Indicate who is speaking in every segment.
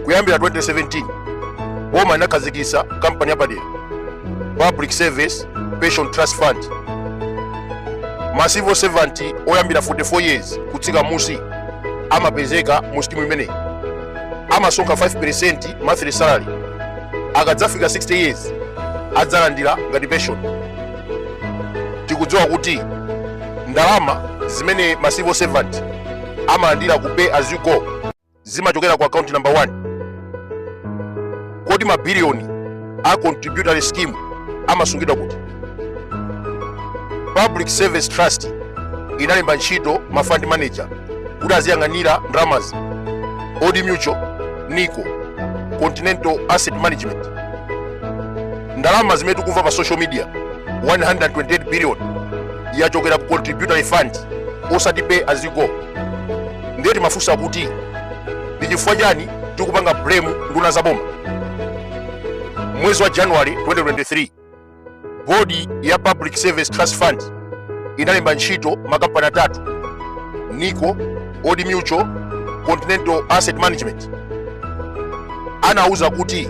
Speaker 1: kuyambira 2017 boma inakhazikitsa kampani yapadera public service pension trust fund ma civil servant oyambira 44 years kutsika musi amapezeka mu skimu imeneyi amasonkha 5% monthly salary akadzafika 60 years adzalandira ngati pension tikudziwa kuti ndalama zimene ma civil servant amalandira ku pay as you go zimachokera ku account number 1 kodi mabiliyoni a contributory scheme amasungidwa kuti public service trust inalemba ntchito ma fund manager kuti aziyang'anira ndalamazi old mutual nico continental asset management ndalama zimene tikumva pa social media 128 billion yachokera ku contributory fund osati pay as you go ndiye timafunsa kuti ndi chifukwa chani tikupanga blame nduna za boma mwezi wa january 2023 bodi ya public service trust fund inalemba ntchito makampani atatu nico old mutual continental asset management anauza kuti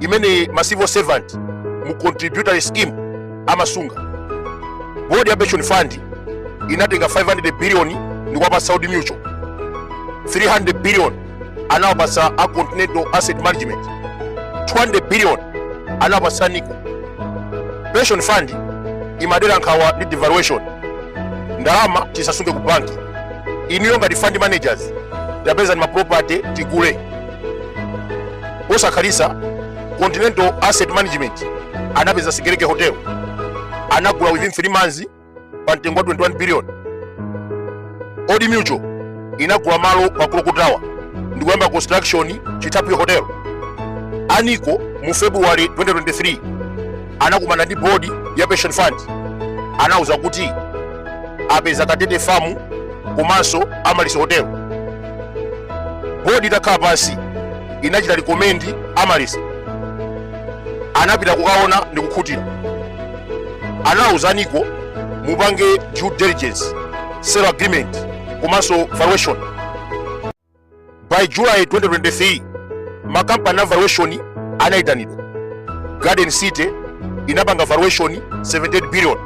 Speaker 1: imene ma civil servant mu contributory scheme amasunga board ya pension fund inatenga 500 billion ndikuwapatsa Old Mutual 300 billion anawapatsa a Continental Asset Management 200 billion anawapatsa Nico pension fund imadera nkhawa ndi devaluation ndalama tisasunge ku banki inuyo ngati fund managers tapezani ma property tigule posakhalitsa continental asset management anapeza sigelege hotel anagula within 3 months pa mtengo wa 21 billion old mutual inagula malo pa clock tower ndikuyamba construction chithaphwi hotel a nico mu february 2023 anakumana ndi bodi ya pension fund anauza kuti apeza katete famu komanso amaryllis hotel bodi itakhala pansi inachita recommend amaryllis anapita kukaona ndi kukhutira anawuza nico mupange due diligence sale agreement komanso valuation by july 2023 makampani a valuation anayitanidwa garden city inapanga valuation 78 billion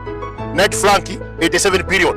Speaker 1: knight frank 87 billion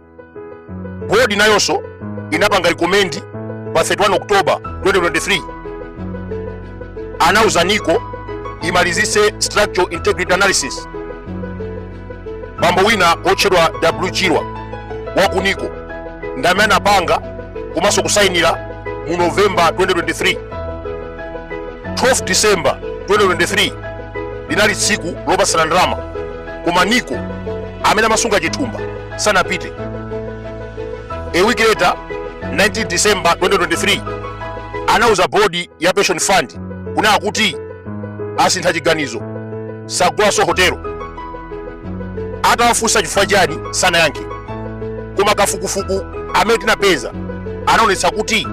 Speaker 1: Bodi nayonso inapanga recommend pa 31 October 2023 anauza NICO imalizitse structural integrity analysis. Bambo wina otchedwa W Chirwa wa ku NICO ndi amene anapanga komanso kusainira mu November 2023. 12 December 2023 linali tsiku lopatsana ndalama koma NICO amene amasunga chithumba sanapite a week later 19 december 2023 anauza bodi ya pension fund kunena kuti asintha chiganizo sagulanso hotelo atawafunsa chifukwa chani sanayankhe koma kafukufuku amene tinapeza anaonetsa kuti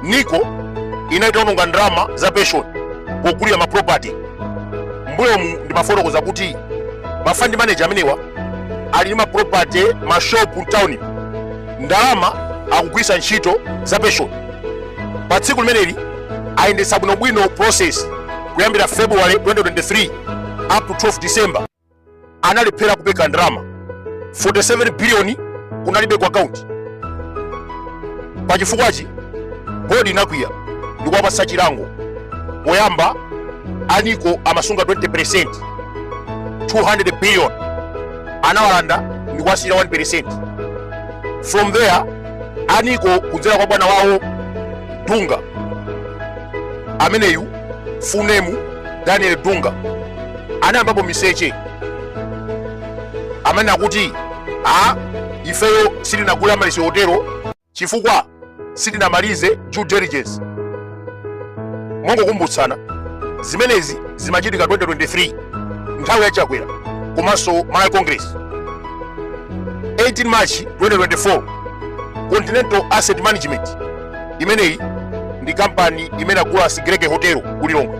Speaker 1: niko inali itaononga ndalama za pension pogulira maproperty mbuyomu ndimafotokoza kuti ma fund manager amenewa ali ndi ma property ma shop mtown ndalama akugwiritsa ntchito za pension pa tsiku limeneli ayendetsa bwinobwino process kuyambira february 2023 up to 12 december analephera kupereka ndalama 47 biliyoni kunalibe ku akaunti pa chifukwachi bodi inakwiya ndikuwapatsa chilango poyamba aniko amasunga 20% 200 billion anawalanda ndikuwasiyira 1% from there aniko kudzera kwa bwana wawo dunga ameneyu funemu daniel dunga anayambapo miseche amanena kuti a ifeyo sitinagula Amaryllis hotelo chifukwa sitinamalize due diligence mongokumbutsana zimenezi zimachitika 2023 nthawi ya chakwera komanso malawi congress 18 march 2024 continental asset management imeneyi ndi kampani imene agula Sigelege hotel ku lilongwe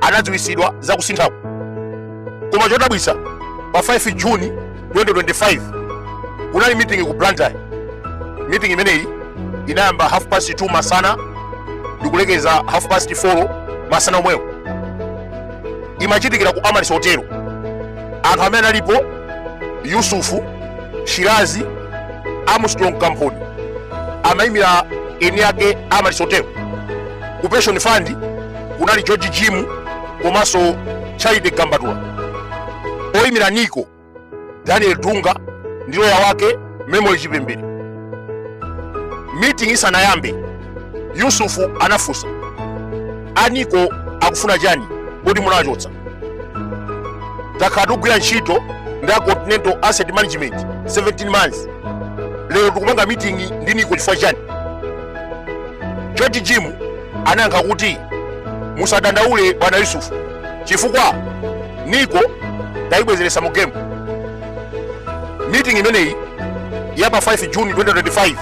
Speaker 1: anadziwitsidwa za kusinthako koma chodabwitsa pa 5 juni 2025 kunali meeting ku blantyre meeting imeneyi inayamba half past 2 masana ndikulekeza half past 4 masana omwewo imachitikira ku Amaryllis hotel anthu amene analipo yusufu shirazi armstrong kamphoni amayimira eni ake Amaryllis hotel ku pension fund kunali george jim komanso charity gambatula oyimira nico daniel dunga ndi loya wake memory chipembere meeting isanayambe yusufu anafunsa a nico akufuna chani poti munachotsa takhala tikugwira ntchito ndi a continental asset management 17 months lero tikupanga meeting ndi nico chifukwa chani george jim anayankha kuti musadandaule bwana yusufu chifukwa nico tayibwezeretsa mu game meeting imeneyi ya pa 5 juni 2025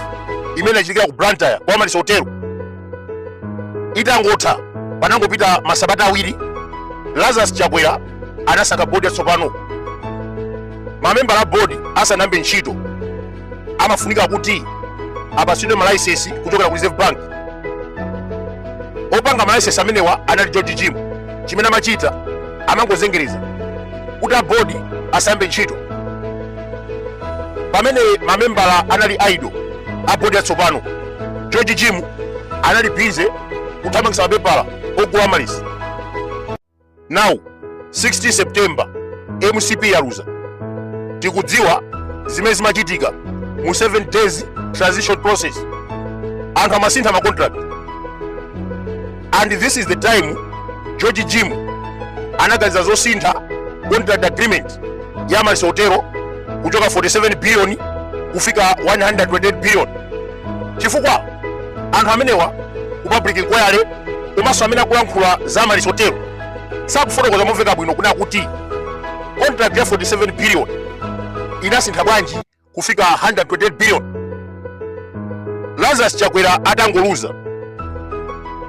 Speaker 1: imene inachitikira ku blantyre pa amaryllis hotelo itangotha panangopita masabata awiri lazarus chakwera anasankha bodi yatsopano mamembala a bodi asanayambe ntchito amafunika kuti apasidwe malaisensi kuchokera ku reserve bank opanga malaisensi amenewa anali george jim chimene amachita amangozengereza kuti a bodi asayambe ntchito pamene mamembala anali idle a bodi atsopano george jim anali busy kuthamangisa mapepala ogula amaryllis now 16 september mcp yaluza tikudziwa zimene zimachitika mu 7 days transition process anthu amasintha ma contract and this is the time george jim anaganiza zosintha contract agreement ya amaryllis hotelo kuchoka 47 billion kufika 128 billion chifukwa anthu amenewa ku public inquiry komanso amene akulankhula za amaryllis hotelo sakufotokoza momveka bwino kunena kuti contract ya 47 billion inasintha bwanji kufika 128 billion lazarus chakwera atangoluza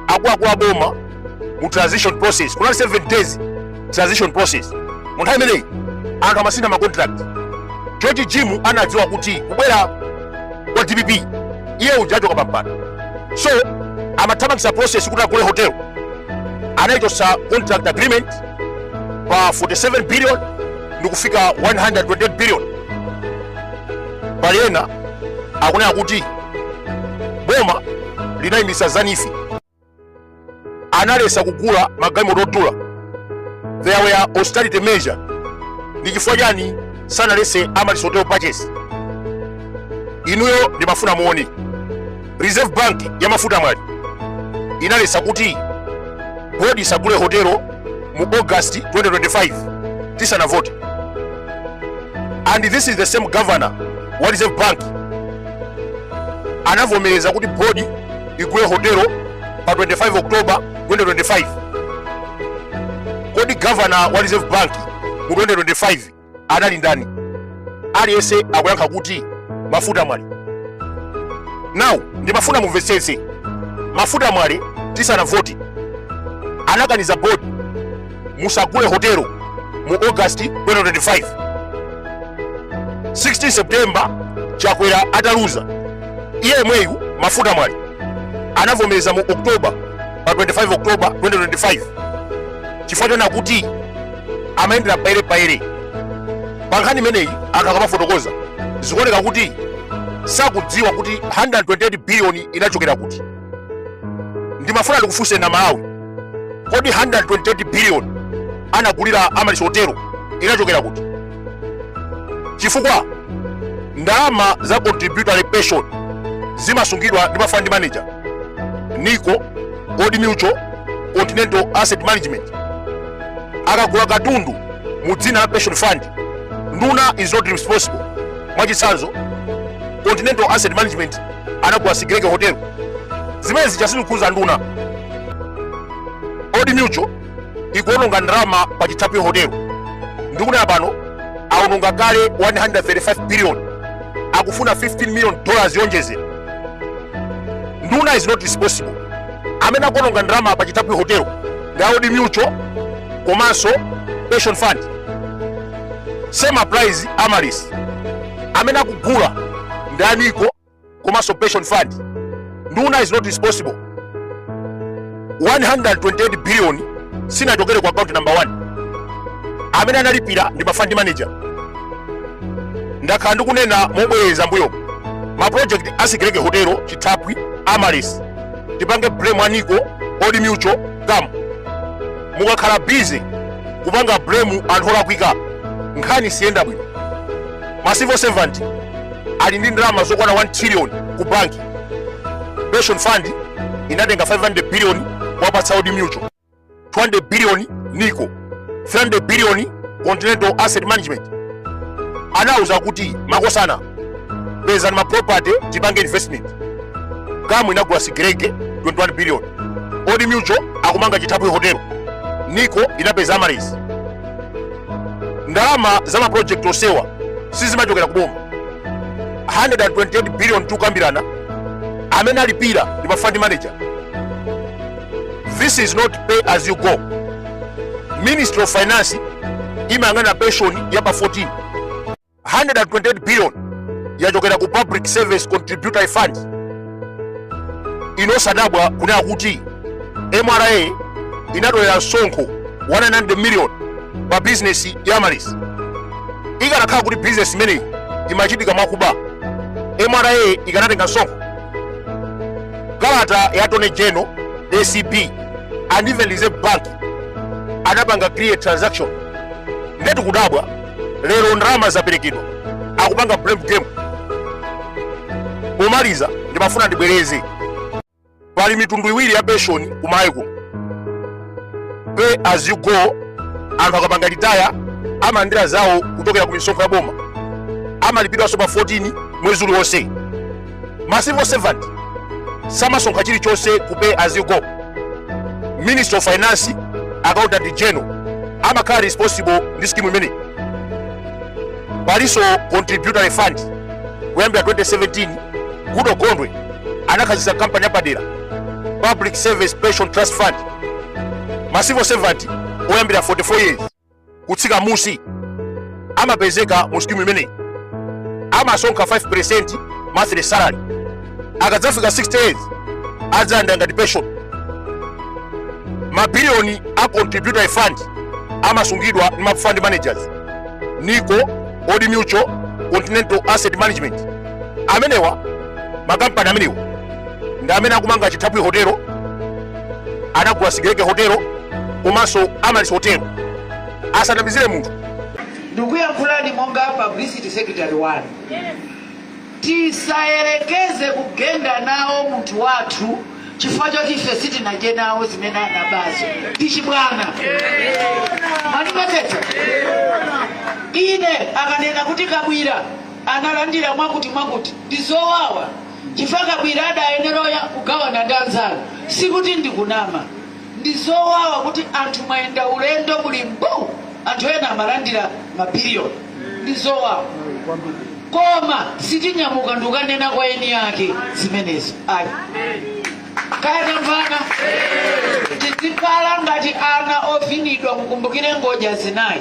Speaker 1: akuluakulu a boma mu transition process kunali 7 days transition process mu nthawi imeneyi anthu amasintha macontract george jim anadziwa kuti kubwera kwa dpp iye uja achoka pampando so amathamangisa process kuti agule hotel anaichosa contract agreement pa 47 billion ndikufika 128 billion pali ena akunena kuti boma linayimisa za neef analesa kugula magalimoto odula there were austerity measure ndi chifukwa chani sanalese amaryllis hotel purchase inuyo ndimafuna muone reserve bank ya mafuta mwale inalesa kuti board isagule hotelo mu august 2025 tisanavote and this is the same governor wa reserve bank anavomereza kuti board igule hotelo pa 25 october 2025 kodi gavana wa reserve bank mu 2025 anali ndani aliyense akuyankha kuti mafuta mwale now ndimafuna mumvetsetse mafuta mwale tisanavote anakaniza bodi musagule hotelo mu august 2025 16 september chakwera ataluza iye yemweyu mafuta mwale anavomereza mu oktoba pa 25 oktoba 2025 chifukwa choona kuti amayendera payerepayere pa nkhani imeneyi anthu akamafotokoza zikuoneka kuti sakudziwa kuti 128 biliyoni inachokera kuti ndimafuna ndikufunseni amalawi kodi 128 billion anagulira amaryllis hotelo inachokera kuti chifukwa ndalama za contributory pension zimasungidwa ndi mafund manager nico old mutual continental asset management akagula katundu mu dzina la pension fund nduna is not responsible mwachitsanzo continental asset management anagula sigelege hotel zimene zija sizikhudza nduna old mutual ikuononga ndalama pa chithaphwi hotel ndikunena pano aononga kale 135 billion akufuna 15 million dollars yonjezera nduna is not responsible amene akuononga ndalama pa chithaphwi hotel ndi a old mutual komanso pension fund same applies amaryllis amene akugula ndi a nico komanso pension fund nduna is not responsible 128 billion sinachokere ku account number 1 amene analipira ndi ma fund manager ndakhala ndikunena mobwereza m'mbuyomu ma project a sigelege hotelo chithaphwi amaryllis tipange blame a nico old mutual cam mukakhala busy kupanga blame anthu olakwika nkhani siyenda bwino ma civil servant ali ndi ndalama zokwana 1 trillion ku banki pension fund inatenga 500 billion kuwapatsa old mutual 200 billion nico 300 billion continental asset management anauza kuti makosana pezani maproperty tipange investment cam inagula sigelege 21 billion old mutual akumanga chithaphwi hotel nico inapeza amaryllis ndalama za maproject onsewa sizimachokera kuboma 128 billion tikukambirana amene alipira ndi mafund manager this is not pay as you go ministry of finance imayang'ana pension ya pa 14 128 billion yachokera ku public service contributory fund inu osadabwa kunena kuti mra inatolera msonkho 100 million pa bizinesi ya amaryllis ikanakhala kuti bizinesi imeneyi imachitika mwakuba mra ikanatenga msonkho kalata ya attorney general acb and even reserve bank anapanga clear transaction nde tikudabwa lero ndalama zaperekedwa akupanga blame game pomaliza ndimafuna ndibwereze pali mitundu iwiri ya penshoni kumayiko pay as you go anthu akapanga retire amalandira zawo kuchokera ku misonkho ya boma amalipidwanso pa 14 mwezi uliwonse ma civil servant samasonkha chilichonse ku pay as you go ministry of finance accountant general amakhala responsible ndi skimu imeneyi palinso contributory fund kuyambira 2017 goodall gondwe anakhazikitsa kampani yapadera public service pension trust fund ma civil servant oyambira 44 years kutsika musi amapezeka mu skimu imeneyi amasonkha 5% monthly salary akadzafika 60 years adzalandira ngati pension mabiliyoni a contributory fund amasungidwa ndi ma fund managers nico old mutual continental asset management amenewa makampani amenewa ndi amene akumanga chithaphwi hotelo anagula sigelege hotelo komanso amaryllis hotelo asanamizire munthu ndikuyankhulani
Speaker 2: monga publicity secretary wanu tisayerekeze kugenda nawo munthu wathu chifukwa choti ife sitinadye nawo zimene anabazo ndi chibwana mwandimvatu eti ine akanena kuti kabwila analandira mwakuti mwakuti ndi zowawa chifukwa kabwila adayenera oya- kugawana ndi anzanu sikuti ndikunama ndi zowawa kuti anthu mwayenda ulendo muli mbu anthu ena amalandira mabiliyoni ndi zowawa koma sitinyamuka nkukanena kwa eni yake zimenezo ayi kaya tamvana tizikhala ngati ana ovinidwa mukumbukire ngodya zinayi